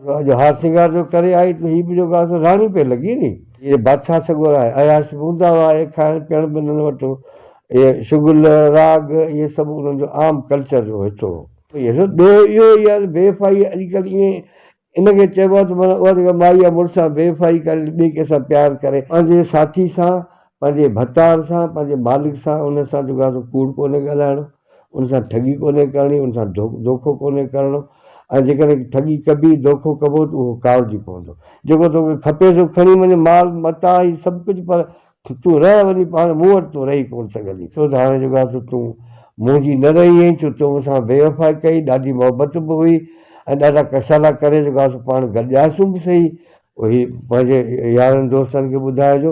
جو هار سينگار جو ڪري آئي ته هي به جو ڳالهه سو راڻي پئي لڳي ني. اهي بادشاهه سڳورا اهي عياشي هوندا هئا اهي کائڻ پيئڻ به انهن وٽ هو اهي شغل راڳ اهي سڀ انهن جو عام ڪلچر جو حصو هو. ڏوهه اهو ئي آهي ته بي وفائي اڄڪلهه ائين ان کي چئبو آهي ته معنيٰ اها جيڪا مائي يا مڙس سان بي وفائي ڪري ٻئي ڪنهن سان پيار ڪري پنهنجي ساٿي سان پنهنجي ڀتار سان پنهنجي مالڪ سان انهن سان جو ڳالهه سو ڪوڙ ڪونهي ڳالهائڻو. ان سان ٺڳي ڪونهي ڪرڻي، ان سان دوکو ڪونهي ڪرڻو ۽ جيڪڏهن ٺڳي ڪبي، دوکو ڪبو ته اهو ڪاوڙجي پوندو. جيڪو توکي کپي سو کڻي وڃ، مال متاع هي سڀ ڪجهه پر تون رهه وڃي پاڻ مون وٽ، تون رهي ڪونه سگهندين. ڇو ته هاڻي جيڪو آهي سو تون منهنجي نه رهي هئين، ڇو تو مون سان بيوفائي ڪئي، ڏاڍي محبت به هئي ۽ ڏاڍا ڪشالا ڪري جيڪو آهي سو پاڻ گڏجاسون به سهي. اهي پنهنجي يارن دوستن کي ٻڌائجو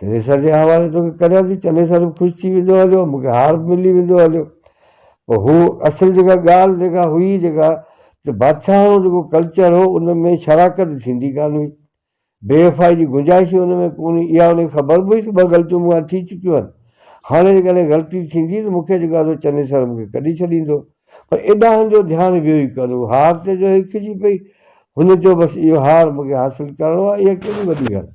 چنيسر جي حوالي توکي ڪريان ٿي، چنيسر به خوش ٿي ويندو هليو، مون کي هار به ملي ويندو هليو. پر هو اصل جيڪا ڳالهه جيڪا هئي جيڪا ته بادشاهڻو جيڪو ڪلچر هو ان ۾ شراڪت ٿيندي ڪانه هئي، بي وفائي جي گنجائش ئي ان ۾ ڪونه هئي، اها ان کي خبر به هئي ته ٻه غلطيون مون کان ٿي چڪيون آهن، هاڻي جيڪڏهن غلطي ٿيندي ته مون کي جيڪو آهي سو چنيسر مون کي ڪڍي ڇڏيندو، پر ايڏانهن جو ڌيان ويو ئي ڪانه، هو هار تي جو هيکجي پئي، هن چيو بس اهو هار مون کي حاصل ڪرڻو آهي، اها ڪهڙي وڏي ڳالهه.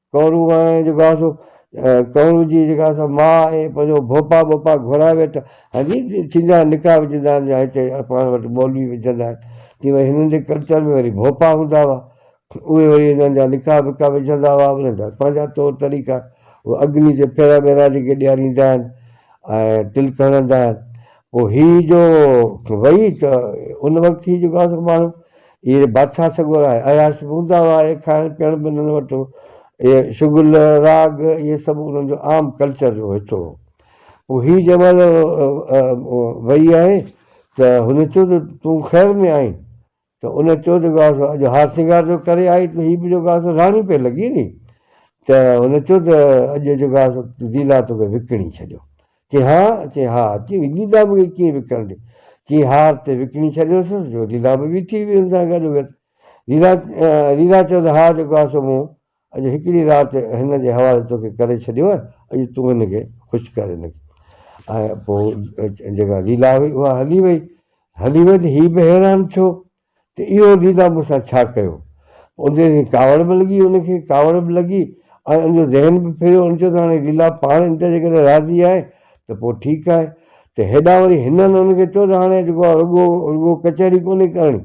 ڪنورو ۽ جيڪو آهي سو ڪنورو جي جيڪا آهي سو ماء ۽ پنهنجو ڀوپا ٻوپا گهرائي ويٺا ها جي ٿيندا آهن نڪاح وجهندا آهن يا هتي پاڻ وٽ مولوي وجهندا آهن تي وري هنن جي ڪلچر ۾ وري ڀوپا هوندا هئا اهي وري هنن جا نڪاح وڪاح وجهندا هئا انهن جا پنهنجا طور طريقا اهي اگني تي ڦيرا ويرا جيڪي ڏياريندا آهن ۽ تلڪ هڻندا آهن پوء هي جو وئي ته ان وقت هي جيڪو آهي سو ماڻهو اهي بادشاهه سڳورا آهي. عياش به هوندا هئا. اهي کائڻ پيئڻ به انهن وٽ هو. اهي شغل، راڳ اهي سڀ انهن جو عام ڪلچر جو حصو هو. پوء هي جنهن مهل وئي آهي ته هن چيو ته تون خير ۾ آهين؟ ته ان چيو ته گاهه سو اڄ هار سينگار جو ڪري آئي ته هي به جو گاهه سو راڻي پئي لڳين ني. ته هن چيو ته اڄ جو گاهه سو ديلا توکي وڪڻي ڇڏيو. چي ها، چي ها، چي وڪيدا به ڪيئن وڪڻڻ ڏي. چي ها تي وڪڻي ڇڏيوس جو ليلا به بيٺي هئي هن سان گڏو گڏ. ليلا، ليلا چيوس ها جيڪو آهي سو مون اڄ هڪڙي رات هن جي حوالي توکي ڪري ڇڏيو آهي اڄ تون هن کي خوش ڪر هن کي ۽ پوء جيڪا ليلا هئي اها هلي وئي. هلي وئي ته هي به حيران ٿيو. ته اهو ليلا مون سان ڇا ڪيو؟ ان تي وري ڪاوڙ به لڳي ان کي ڪاوڙ به لڳي ۽ ان جو ذهن به ڦريو ان چيو ته هاڻي ليلا پاڻ ان تي جيڪڏهن راضي آهي ته پوء ٺيڪ آهي ته هيڏانهن وري هنن ان کي چيو ته هاڻي جيڪو آهي رڳو رڳو ڪچهري ڪونهي ڪرڻي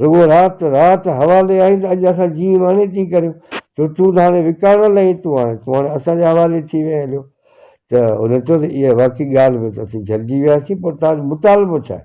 رڳو رات رات حوالي آهين ته اڄ اسان جيئي ماڻي تيئي ڪريون ڇو تون ته هاڻي وڪاڻل آهين تون هاڻي تون هاڻي اسان جي حوالي ٿي وئين هليو ته ان چيو ته اها واقعي ڳالهه ۾ ته اسين جهلجي وياسين پر تنهنجو مطالبو ڇا آهي؟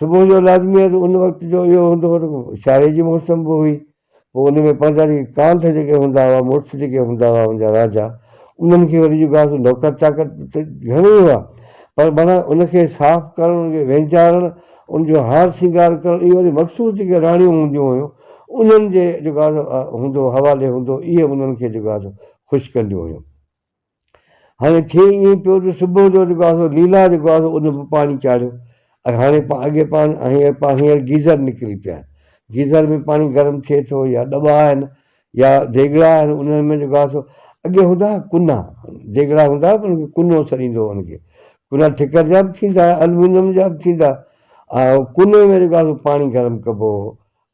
صبح جو لازمي آهي ته ان وقت جو اهو هوندو هو ته سياري جي موسم به هئي، پوء ان ۾ پنهنجا جيڪي ڪانڌ جيڪي هوندا هئا، مڙس جيڪي هوندا هئا ان جا راجا، انهن کي وري جيڪو آهي نوڪر چاڪر ته گهڻي هئا، پر معنيٰ ان کي صاف ڪرڻ، ان کي وينجارڻ، ان جو هار سينگار ڪرڻ اهي وري مخصوص جيڪي راڻيون هونديون هيون، انهن جي جيڪو آهي سو هوندو حوالي هوندو، اهي انهن کي جيڪو آهي سو خوش ڪنديون هيون. هاڻي ٿئي ائين پيو ته صبح جو جيڪو آهي سو ليلا جيڪو آهي سو ان به پاڻي چاڙهيو ۽ هاڻي اڳي پاڻي هينئر پاڻي هينئر گيزر نڪري پيا آهن گيزر ۾ پاڻي گرم ٿئي ٿو يا ڏٻا آهن يا ديڳڙا آهن انهن ۾ جيڪو آهي سو اڳي هوندا هئا ڪنا ديڳڙا هوندا هئا ان کي ڪنو سڏيندو هو ان کي ڪنا ٺڪر جا به ٿيندا هئا المونيم جا به ٿيندا هئا ڪني ۾ جيڪو آهي سو پاڻي گرم ڪبو هو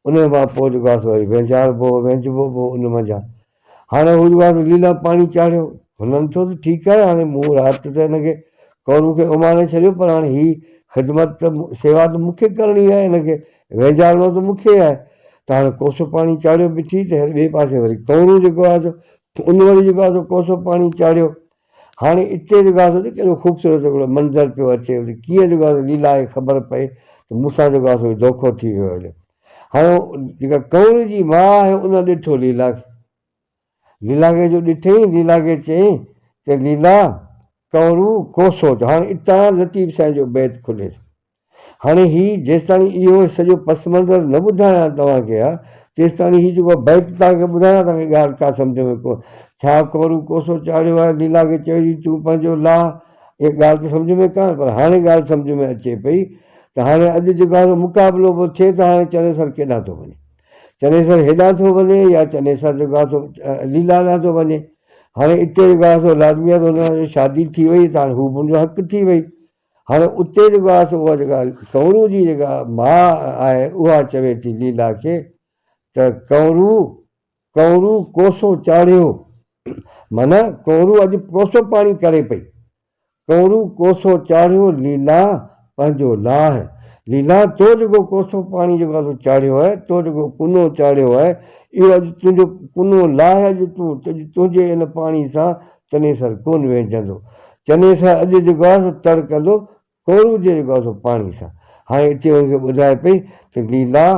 ان کان پوء جيڪو آهي سو وري وهنجاربو هو وهنجبو به هو ان منجهان هاڻي هو رواز علي ڏانهن پاڻي چاڙهيو. هنن چيو ته ٺيڪ آهي هاڻي مون رات ته هن کي ڪورو کي اماڻي ڇڏيو پر هاڻي هي خدمت ته سيوا ته مون کي ڪرڻي آهي هن کي وينجهارڻو ته مون کي آهي ته هاڻي ڪوسو پاڻي چاڙهيو بٺي ته هير ٻئي پاسي وري ڪورو جيڪو آهي سو ان وري جيڪو آهي سو ڪوسو پاڻي چاڙهيو هاڻي اتي جيڪو آهي سو ڏس ڪهڙو خوبصورت هڪڙو منظر پيو اچي وڃي. ڪيئن جيڪو آهي سو ليلا کي خبر پئي ته مون سان جيڪو آهي سو هي دوکو ٿي ويو آهي. هاڻي جيڪا ڪنور جي ماء آهي ان ڏٺو ليلا کي. ليلا کي جو ڏٺئين، ليلا کي چيائين ته ليلا، ڪنورو، ڪو سوچ. هاڻي اتان لطيف سائين جو بيت کلي ٿو. هاڻي هي جيستاڻي اهو سڄو پس منظر نه ٻڌايان توهان کي ها تيستاڻي هي جيڪو بيت توهان کي ٻڌايان توهان کي ڳالهه ڪا سمجهه ۾ ڪو ڇا ڪورو ڪوسو چاڙهيو آهي ليلا کي چئي ڏي تون پنهنجو لاء اها ڳالهه ته سمجهه ۾ ڪانه پر هاڻي ڳالهه سمجهه ۾ اچي پئي ته هاڻي اڄ جيڪو آهي سو مقابلو به ٿئي ته هاڻي چنيسر ڪيڏانهن ٿو وڃي چنيسر هيڏانهن ٿو وڃي يا چنيسر جيڪو آهي سو ليلا ڏانهن ٿو وڃي هاڻي اتي جيڪو آهي سو لازمي آهي ته هن سان شادي ٿي وئي ته هاڻي هو به هن جو حق ٿي وئي هاڻي اتي جيڪو آهي سو اها جيڪا ڪنورو جي جيڪا ماء آهي اها چوي ٿي ليلا کي ته ڪنورو ڪنورو ڪوسو چاڙهيو معنيٰ ڪنورو اڄ ڪوسو پاڻي ڪري پئي ڪنورو ڪوسو چاڙهيو ليلا پنهنجو لاهه ليلا تو جيڪو ڪوسو پاڻي جيڪو آهي سو چاڙهيو آهي تو جيڪو ڪنو چاڙهيو آهي اهو اڄ تنهنجو ڪنو لاهه اڄ تون تنهنجي ان پاڻي سان چنيسر ڪونه ويهجندو. چنيسر اڄ جيڪو آهي سو تڙ ڪندو، ڪهروجي جيڪو آهي سو پاڻي سان. هاڻي اتي هن کي ٻڌائي پئي ته ليلا،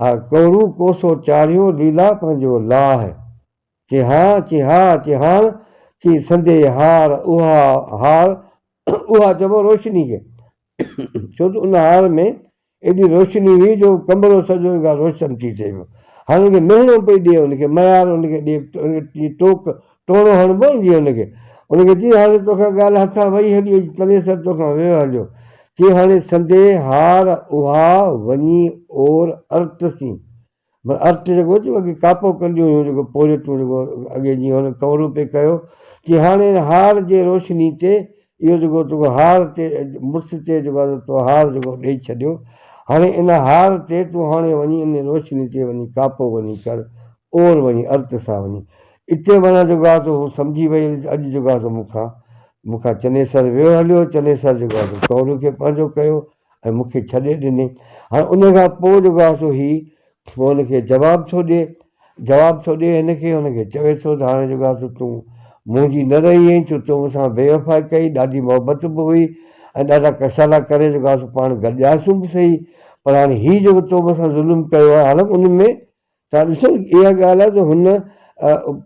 آء ڪهرو ڪوسو چاڙهيو ليلا پنهنجو لاهه. چي ها، چي ها، چي هاڻ، چي سندي هار اها هار اها چئبو روشني کي. ڇو ته ان هار ۾ ايڏي روشني هئي جو ڪمرو سڄو ئي روشن ٿي ٿئي پيو. هاڻ ان کي مهڻو پئي ڏي ان کي ميار ان کي ڏي جيئن ٽوڪ ٽوڻو هڻبو جيئن ان کي ان کي چيس هاڻي توکان ڳالهه هٿان وئي هلي اڄ تنيسر توکان ويو هليو چي هاڻي سندي هار اها وڃي اور ارت سين معنيٰ ارٽ جيڪو ٿيو اڳي ڪاپو ڪنديون هيون جيڪو پوريٽون جيڪو اڳي جيئن هن ڪورو پئي ڪيو چي هاڻي هن هار جي روشني تي اهو جيڪو توکو هار تي مڙس تي جيڪو آهي تو هار جيڪو ڏئي ڇڏيو هاڻي ان هار تي تون هاڻي وڃي ان روشني تي وڃي ڪاپو وڃي ڪر اور وڃي ارٽ سان وڃي اتي معنيٰ جيڪو آهي سو هو سمجهي وئي اڄ جيڪو آهي سو مون کان مون کان چنيسر ويو هليو چنيسر جيڪو آهي سو ڪورو کي پنهنجو ڪيو ۽ مون کي ڇڏي ڏني هاڻي ان کان پوء جيڪو آهي سو هي پوء ان کي جواب ٿو ڏئي جواب ٿو ڏئي هن کي هن کي چوي ٿو ته هاڻي جيڪو آهي سو تون منهنجي نه رهي آهين ڇو تو مون سان بيوفائي ڪئي ڏاڍي محبت به هئي ۽ ڏاڍا ڪسالا ڪري جيڪو آهي سو پاڻ گڏجاسون به صحيح پر هاڻي هي جيڪو تو مون سان ظلم ڪيو آهي حالانڪ ان ۾ ڇا ڏسو اها ڳالهه آهي ته هن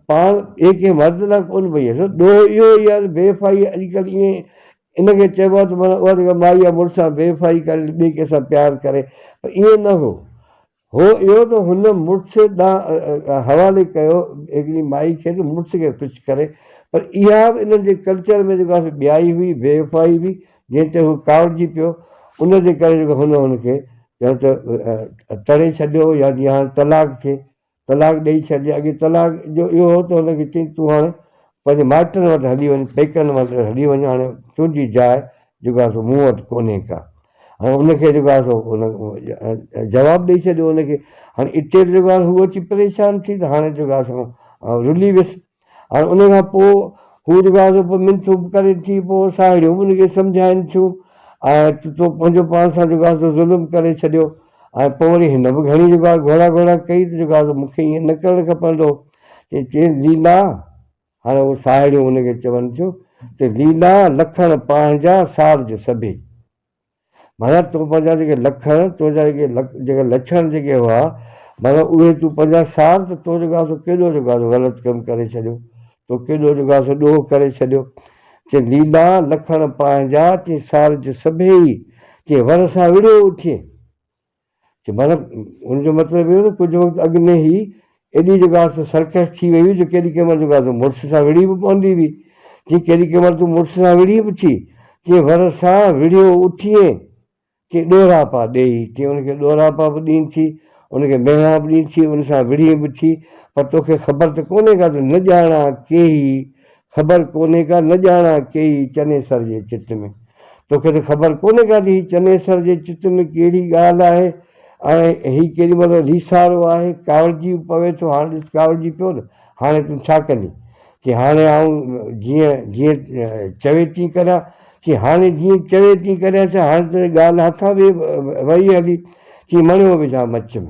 پاڻ ٻئي ڪنهن مرد لاء ڪونه پئي هيئي ڏوهه اهو ئي آهي ته بي وفائي اڄڪلهه ائين ان کي چئبو آهي ته معنيٰ اها جيڪا مائي يا مڙس سان بي وفائي ڪري ٻئي ڪنهن سان پيار ڪري پر ائين نه هو هو اهو ته هن مڙس ڏانهن حوالي ڪيو هڪڙي مائي کي ته مڙس کي خوش ڪري پر اها به انهن جي ڪلچر ۾ جيڪا سو ٻيائي هئي بي وفائي هئي جنهن تي هو ڪاوڙجي پيو، ان جي ڪري جيڪو هن هن کي ڄڻ ته تڙي ڇڏيو يا جيئن هاڻي طلاق ٿئي، طلاق ڏيئي ڇڏجي. اڳي طلاق جو اهو هو ته هن کي چئي تون هاڻي پنهنجي مائٽن وٽ هلي وڃ، پيڪن وٽ هلي وڃ، هاڻي تنهنجي جاء جيڪو آهي سو مون وٽ ڪونهي ڪا. هاڻي ان کي جيڪو آهي سو جواب ڏيئي ڇڏيو هن کي. هاڻي اتي جيڪو آهي هو اچي پريشان ٿي ته هاڻي جيڪو آهي سو رلي ويس. هاڻ ان کان پوء هو جيڪا سو پوء منٿون به ڪري ٿي، پوء ساهيڙيون به ان کي سمجهائين ٿيون ۽ ته تو پنهنجو پاڻ سان جيڪا سو ظلم ڪري ڇڏيو ۽ پوء وري هن به گهڻي جيڪا گهوڙا گهوڙا ڪئي ته جيڪا سو مون کي ائين نه ڪرڻ کپندو هو ته چيس ليلا هاڻ اهو ساهيڙيون ان کي چون ٿيون ته ليلا لکڻ پاهنجا سارج سڀي. معنيٰ تو پنهنجا جيڪي لکڻ، تنهنجا جيڪي جيڪي لڇڻ جيڪي هئا، معنيٰ اهي تون پنهنجا سار ته تو جيڪو آهي سو ڪيڏو جيڪو آهي سو غلط ڪم ڪري ڇڏيو، تو ڪيڏو جيڪو آهي سو ڏوهه ڪري ڇڏيو. چي ليلا لکڻ پنهنجا، چي سار جي سڀيئي، چي ور سان وڙهيو اٿيئي. چي مطلب ان جو مطلب اهو ته ڪجهه وقت اڳ ۾ هي ايڏي جيڪا سو سرڪس ٿي وئي هئي جو ڪيڏي ڪنهن مهل جيڪا سو مڙس سان وڙهي به پوندي هئي. چي ڪيڏي ڪنهن مهل تون مڙس سان وڙهي به ٿي. چي ور سان وڙهيو اٿيئي. چي ڏوراپا ڏيئي. چي ان کي ڏوراپا به ڏين ٿي. ان کي مهڻا به ڏين ٿي. ان سان وڙهين به ٿي. پر توکي خبر ته ڪونهي ڪا ته نه ڄاڻان ڪيهي خبر ڪونهي ڪا نه ڄاڻا ڪيئي چنيسر جي چت ۾. توکي ته خبر ڪونهي ڪا ته هي چنيسر جي چت ۾ ڪهڙي ڳالهه آهي ۽ هي ڪيڏي مهل ليسارو آهي. ڪاوڙجي به پوي ٿو. هاڻ ڏس ڪاوڙجي پيو نه. هاڻي تون ڇا ڪندين؟ چي هاڻي آئون جيئن جيئن چوي تيئن ڪريان. چي هاڻي جيئن چوي تيئن ڪريان ڇا هاڻي ته ڳالهه هٿان ويئي هلي. چي مڻيو وجهان مچ ۾.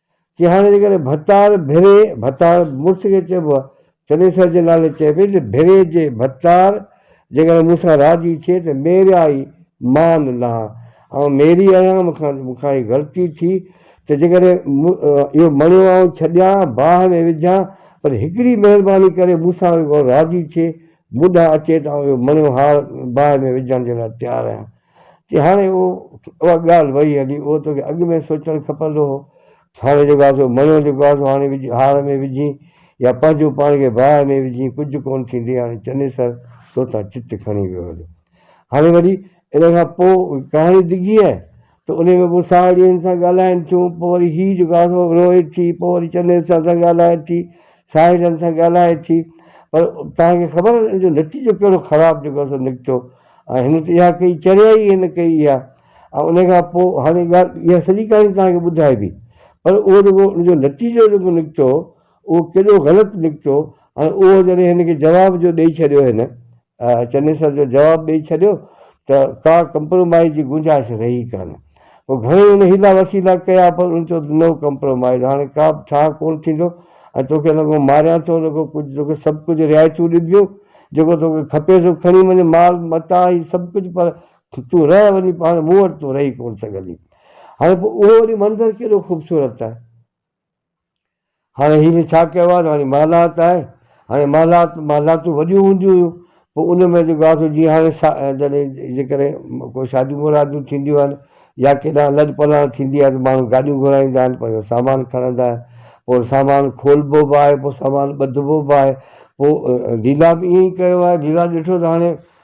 چي هاڻي جيڪڏهن ڀتار ڀيري، ڀتار مڙس کي چئبو آ، چنيسر جي نالي چئي پئي ته ڀيري جي ڀتار جيڪڏهن مون سان راضي ٿئي ته ميريا ئي مان لهان. آئون ميري آهيان، مون کان مون کان هي غلطي ٿي ته جيڪڏهن مون اهو مڻيو آئون ڇڏيان، باهه ۾ وجهان، پر هڪڙي مهرباني ڪري مون سان رڳو راضي ٿئي، مون ڏانهن اچي ته آئون اهو مڻيو هار باهه ۾ وجهڻ جي لاء تيار آهيان. تي هاڻي اهو اها ڳالهه وئي هلي اهو توکي اڳ ۾ سوچڻ کپندو هو هاڻي جيڪو آهي سو مڻيو جيڪو آهي سو هاڻي وجهي هار ۾ وجهين يا پنهنجو پاڻ کي باهه ۾ وجهين ڪجهه ڪونه ٿيندي هاڻي چنيسر تو تان چت کڻي ويو هليو هاڻي وري ان کان پوء ڪهاڻي ڊگهي آهي ته انهي ۾ پوء ساهڙين سان ڳالهائين ٿيون پوء وري هي جيڪو آهي سو روئي ٿي پوء وري چنيسر سان ڳالهائي ٿي ساحلن سان ڳالهائي ٿي پر توهان کي خبر آهي ان جو نتيجو ڪهڙو خراب جيڪو سو نڪتو ۽ هن ته اها ڪئي چريائي ئي هن ڪئي اها ۽ ان کان پوء هاڻي ڳالهه اها سڄي ڪهاڻي توهان کي ٻڌائبي پر اهو جيڪو ان جو نتيجو جيڪو نڪتو اهو ڪيڏو غلط نڪتو ۽ اهو جڏهن هن کي جواب جو ڏئي ڇڏيو هن چنيسر جو جواب ڏئي ڇڏيو ته ڪا ڪمپرومائيز جي گنجائش رهي ڪانه. پوء گهڻي هن حيلا وسيلا ڪيا پر هن چيو ته نو ڪمپرومائيز هاڻي ڪا به ٺاهه ڪونه ٿيندو ۽ توکي نه ڪو ماريان ٿو نه ڪو ڪجهه توکي سڀ ڪجهه رعايتون ڏبيون جيڪو توکي کپي سو کڻي وڃ مال متاع هي سڀ ڪجهه پر تون رهه وڃي پاڻ مون وٽ تون رهي ڪونه سگهندين. هاڻي پوء اهو وري منظر ڪيڏو خوبصورت آهي هاڻي هن ڇا ڪيو آهي ته هاڻي محلات آهي، هاڻي محلات محلاتون وڏيون هونديون هيون، پوء ان ۾ جيڪو آهي سو جيئن هاڻي سا جڏهن جيڪڏهن ڪو شاديون مراديون ٿينديون آهن يا ڪيڏانهن لڏ پلاڻ ٿيندي آهي ته ماڻهو گاڏيون گهرائيندا آهن پنهنجو سامان کڻندا آهن پوء سامان کولبو به آهي پوء سامان ٻڌبو به آهي پوء ڍيلا به ائين ئي ڪيو آهي ڍيلا ڏٺو ته هاڻي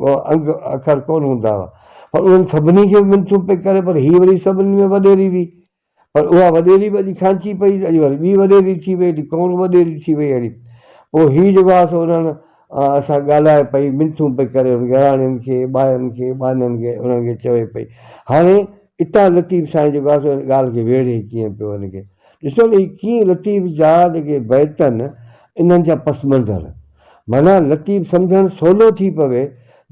ڪو انگ اکر ڪونه هوندا هئا پر انهن سڀني کي منٿون پئي ڪري پر هيء وري سڀني ۾ وڏيري هئي پر اها وڏيري به اڄ کانچي پئي اڄ وري ٻي وڏيري ٿي وئي ايڏي ڪونه وڏيري ٿي وئي هڙي پوء هي جيڪو آهي سو انهن سان ڳالهائي پئي منٿون پئي ڪري انهن گهراڻين کي ٻائرن کي ٻانهن کي انهن کي چوي پئي هاڻي اتان لطيف سائين جيڪو آهي سو ان ڳالهه کي ويڙهي ڪيئن پيو ان کي ڏسو نه هي ڪيئن لطيف جا جيڪي بيت آهن انهن جا پس منظر معنيٰ لطيف سمجهڻ سولو ٿي پوي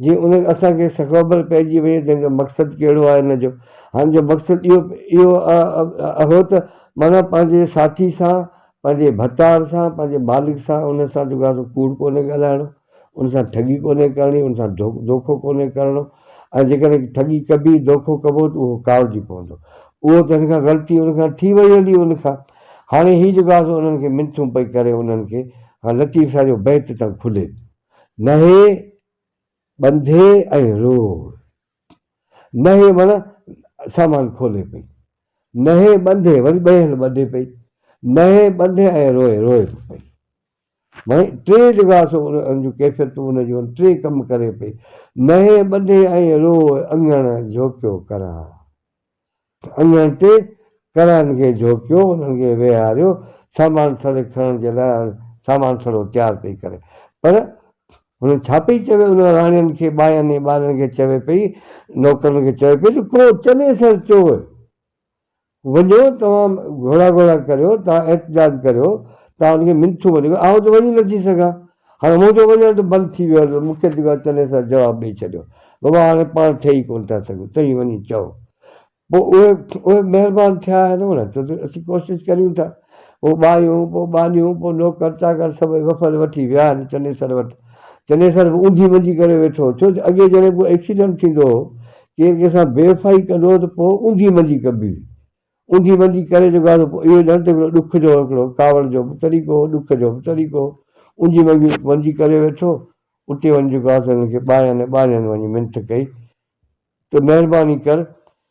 جي ان اسان کي سخبر پئجي وڃي ته ان جو مقصد ڪهڙو آهي ان جو هن جو مقصد اهو اهو اهو ته معنيٰ پنهنجي ساٿي سان پنهنجي ڀتار سان پنهنجي مالڪ سان ان سان جيڪو آهي سو ڪوڙ ڪونهي ڳالهائڻو ان سان ٺڳي ڪونهي ڪرڻي ان سان دوکو ڪونهي ڪرڻو ۽ جيڪڏهن ٺڳي ڪبي دوکو ڪبو ته اهو ڪاوڙجي پوندو اهو ته هن کان غلطي ان کان ٿي وئي هلي ان کان هاڻي هي جيڪو آسو انهن کي منٿون پئي ڪري انهن کي هان لطيف شاهه جو بيت تان کلي ٿو نهي ٻنڌي ۽ روڙ نهي وڻ سامان کولي پئي نهي ٻنڌي وري ٻئي هنڌ ٻڌي پئي نهي ٻنڌي ۽ روئي روئي به پئي معني ٽي جيڪو آسو ان جون ڪيفيتون ان جون ٽي ڪم ڪري پئي نهي ٻنڌي ۽ روئي اڱڻ جهوڪيو ڪران اڃڻ تي ڪرائن کي جهوڪيو، انهن کي ويهاريو، سامان سڙي کڻڻ جي لاء هاڻي سامان سڙو تيار پئي ڪري. پر هن ڇا پئي چوي، انهن راڻين کي، ٻائين ۽ ٻارن کي چوي پئي، نوڪرن کي چوي پئي ته ڪو چني سر چوء، وڃو توهان گهوڙا گهوڙا ڪريو، توهان احتجاج ڪريو، توهان ان کي منٿون وڍيو، آئون ته وڃي نٿي سگهان. هاڻي منهنجو وڃڻ ته بند ٿي ويو آهي، مکيه ديوان چني سان جواب ڏئي ڇڏيو، بابا هاڻي پاڻ ٺهي ڪونه ٿا سگهون، توهين وڃي چئو. پوء اهي اهي مهربان ٿيا آهن هو نه، ڇو ته اسين ڪوشش ڪريون ٿا. پوء ٻايون، پوء ٻانهيون، پوء نوڪر چاڪر سڀئي وفد وٺي ويا آهن چنيسر وٽ. چنيسر به اونڌي منجي ڪري ويٺو هو، ڇو ته اڳي جڏهن ڪو ايڪسيڊنٽ ٿيندو هو، ڪير ڪنهن سان بي وفائي ڪندو هو ته پوء اونڌي منجي ڪبي هئي. اوندي وندي ڪري جو گادو پو اهو ڄڻ ته هڪڙو ڏک جو هڪڙو ڪاوڙ جو به طريقو هو، ڏک جو به طريقو هو. اوندي وندي وندي ڪري ويٺو، اتي وڃي جو گادو هنن کي ٻانهن ۽ ٻانهن وڃي منٿ ڪئي ته مهرباني ڪر،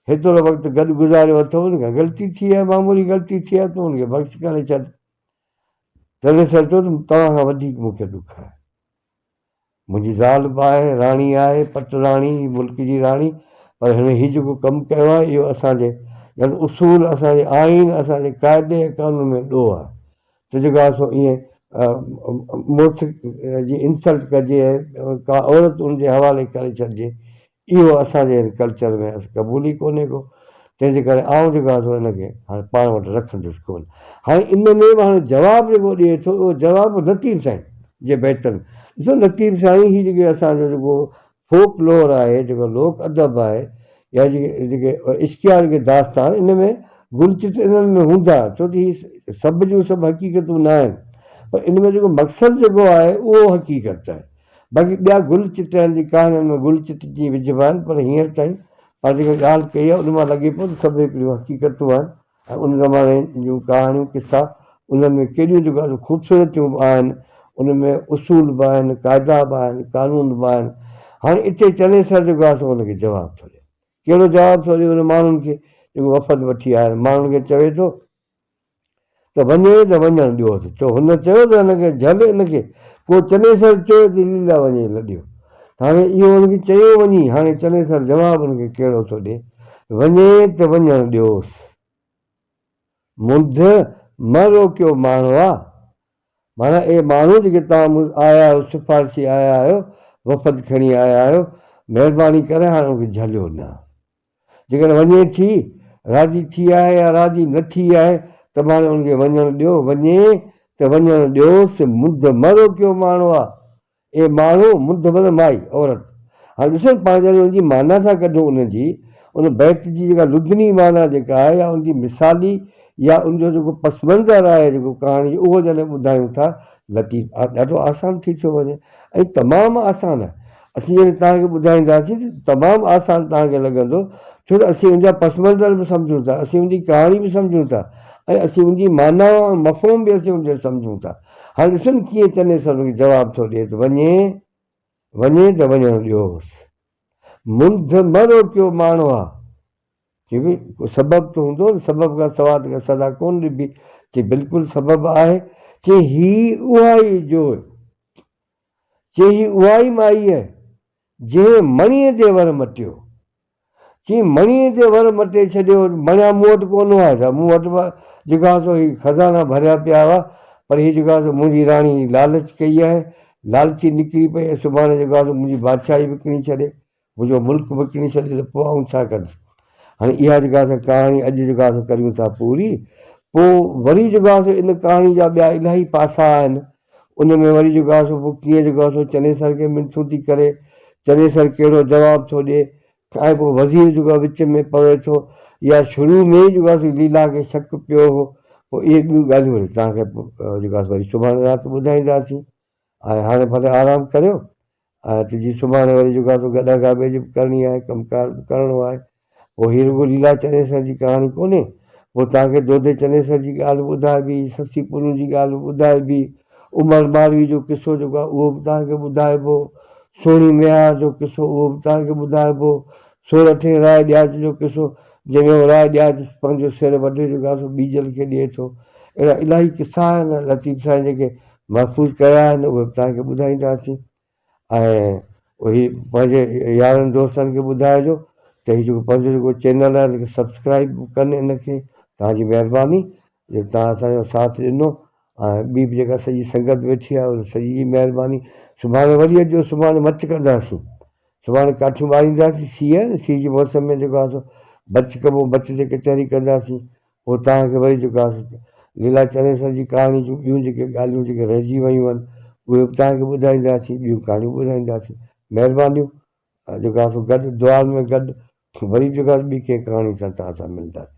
هيترو وقت گڏ گذاريو اٿئون، ان کان غلطي ٿي آهي، معمولي غلطي ٿي آهي، تون ان کي بخش ڪري ڇڏ. تنهن سر چيو ته توهان کان وڌيڪ مون کي ڏک آهي. منهنجي زال به آهي راڻي آهي پٽ راڻي ملڪ جي راڻي پر هن هي جيڪو ڪم ڪيو آهي اهو اسان جي يعني اصول اسان جي آئين اسان جي قاعدي ۽ قانون ۾ ڏوهه آهي ته جيڪا سو ائين مڙس جي انسلٽ ڪجي ۽ ڪا عورت ان جي حوالي ڪري ڇڏجي اهو اسان جي هن ڪلچر ۾ اصل قبول ئي ڪونهي ڪو، تنهن جي ڪري آئون جيڪو آهيان سو ان کي هاڻي پاڻ وٽ رکندس ڪونه. هاڻي ان ۾ به هاڻي جواب جيڪو ڏئي ٿو اهو جواب لطيف سائين جي بيتن ڏسو لطيف سائين هي جيڪي اسان جو جيڪو فوڪ لور آهي جيڪو لوڪ ادب آهي يا جيڪي جيڪي عشقيا جيڪي داستان ان ۾ گل چت انهن ۾ هوندا ڇو ته هي سڀ جون سڀ حقيقتون نه آهن پر ان ۾ جيڪو مقصد جيڪو آهي اهو حقيقت آهي. باقي ٻيا گل چٽڻ جي ڪهاڻين ۾ گل چٽجي وجهبا آهن پر هينئر تائين پنهنجي جيڪا ڳالهه ڪئي آهي ان مان لڳي پيو ته سڀ هڪڙيون حقيقتون آهن ۽ ان زماني جون ڪهاڻيون قصا انهن ۾ ڪيڏيون جو ڳالهيون خوبصورتيون به آهن ان ۾ اصول به آهن قاعدا به آهن قانون به آهن هاڻي اتي چنيسر جيڪو آهي سو ان کي جواب ٿو ڏي ڪهڙو جواب ٿو ڏي ان ماڻهن کي جيڪو وفد وٺي آيا آهن ماڻهن کي چوي ٿو ته وڃي ته وڃڻ ڏيوس، ڇو هن چيو ته هن کي جهل ان کي، پوء چنيسر چيو ته ليلا وڃي لڏيو. ته هاڻي اهو هن کي چيو وڃي، هاڻي چنيسر جواب هن کي ڪهڙو ٿو ڏي، وڃي ته وڃڻ ڏيوس. منڌ مه روڪيو ماڻهوا، معنيٰ اي ماڻهو جيڪي توهان مون آيا آهيو، سفارشي آيا آهيو، وفد کڻي آيا آهيو، مهرباني ڪري هاڻي ان کي جهليو نه. جيڪڏهن وڃي ٿي، راضي ٿي آهي يا راضي نه ٿي آهي، ته به هاڻي ان کي وڃڻ ڏيو، وڃي ته وڃڻ ڏيوس، منڌ مه روڪيو ماڻهو آ، اي ماڻهو، منڌ مه نه مائي، عورت. هاڻي ڏسو نه پاڻ جڏهن ان جي معنيٰ ٿا ڪڍون ان جي، ان بيت جي جيڪا لدني معنيٰ جيڪا آهي يا ان جي مثالي يا ان جو جيڪو پس منظر آهي جيڪو ڪهاڻي جو اهو جڏهن ٻڌايون ٿا، لطيف، ڏاڍو آسان ٿي ٿيو وڃي ۽ تمام آسان آهي. اسين يعني توهان کي ٻڌائينداسين ته تمام آسان توهان کي لڳندو ڇو ته اسين ان جا پس منظر به سمجهون ٿا اسين ان جي ڪهاڻي به سمجهون ٿا ۽ اسين ان جي معنيٰ ۽ مفهوم به اسين ان جي سمجهون ٿا هاڻي ڏسو نه ڪيئن چنيسر ان کي جواب ٿو ڏئي ته وڃي وڃي ته وڃڻ ڏيوس منڌ مه روڪيو ماڻهو آ چي ڀي ڪو سبب ته هوندو نه سبب کان سواء ته ڪا سزا ڪونه ڏبي چي بلڪل سبب آهي چي هي اها ئي جوء چيئي اها ئي مائيء، جنهن مڻيء تي ور مٽيو. چيئي مڻيء تي ور مٽي ڇڏيو، مڻيا مون وٽ ڪونه هئا ڇا؟ مون وٽ به جيڪا سو هي خزانا ڀريا پيا هئا، پر هي جيڪا سو منهنجي راڻي لالچ ڪئي آهي، لالچي نڪري پئي ۽ سڀاڻي جيڪا سو منهنجي بادشاهي وڪڻي ڇڏي. منهنجو ملڪ وڪڻي ڇڏي ته پوء آئون ڇا ڪندس؟ هاڻي اها جيڪا اسان ڪهاڻي اڄ جيڪا اسان ڪريون ٿا پوري، پوء وري جيڪا سو ان ڪهاڻي جا ٻيا الاهي پاسا آهن، ان ۾ وري جيڪا سو پوء ڪيئن جيڪا سو چنيسر کي منٿون ٿي ڪري، چنيسر ڪهڙو جواب ٿو ڏئي ۽ پوء وزير جيڪو وچ ۾ پوي ٿو يا شروع ۾ ئي جيڪا سو ليلا کي شڪ پيو هو، پوء اهي ٻيون ڳالهيون وري توهان کي جيڪا سو وري سڀاڻي رات ٻڌائينداسين. هاڻي ڀلي آرام ڪريو آهي ته جي سڀاڻي وري جيڪا توکي ادا ڪار ٻئي جي به ڪرڻي آهي ڪم ڪار به ڪرڻو آهي پوء هي رڳو ليلا چنيسر جي ڪهاڻي ڪونهي پوء توهان کي دودي چنيسر جي ڳالهه به ٻڌائبي سسي پنهون جي ڳالهه به ٻڌائبي عمر مالوي جو قصو جيڪو آهي اهو به توهان کي ٻڌائبو سهڻي ميهار جو قصو اهو به توهان کي ٻڌائبو سورٺي راء ڏياچ جو قصو جنهن ۾ اهو راء ڏياچ پنهنجو سر وڍي جيڪو آهي سو ٻيجل کي ڏئي ٿو اهڙا الاهي قصا آهن لطيف سائين جيڪي محفوظ ڪيا آهن اهي به توهان کي ٻڌائينداسين ۽ هي پنهنجي يارن دوستن کي ٻڌائجو ته هي جيڪو پنهنجو جيڪو چينل آهي ان کي سبسڪرائب به ڪن ان کي توهان جي مهرباني جو توهان اسانجو ساٿ ڏنو ۽ ٻي به جيڪا سڄي سنگت ويٺي آهي ان سڄي جي مهرباني سڀاڻي وري اچجو سڀاڻي مچ ڪنداسين سڀاڻي ڪاٺيون ٻارينداسين سيء آهي نه سيء جي موسم ۾ جيڪو آهي سو بچ ڪبو بچ تي ڪچهري ڪنداسين پوء توهان کي وري جيڪا ليلا چنيسر جي ڪهاڻي جون ٻيون جيڪي ڳالهيون جيڪي رهجي ويون آهن اهي به توهان کي ٻڌائينداسين ٻيون ڪهاڻيون به ٻڌائينداسين مهربانيون جيڪا سو گڏ دعائن ۾ گڏ وري جيڪا ٻي ڪنهن ڪهاڻي سان توهان سان ملنداسين.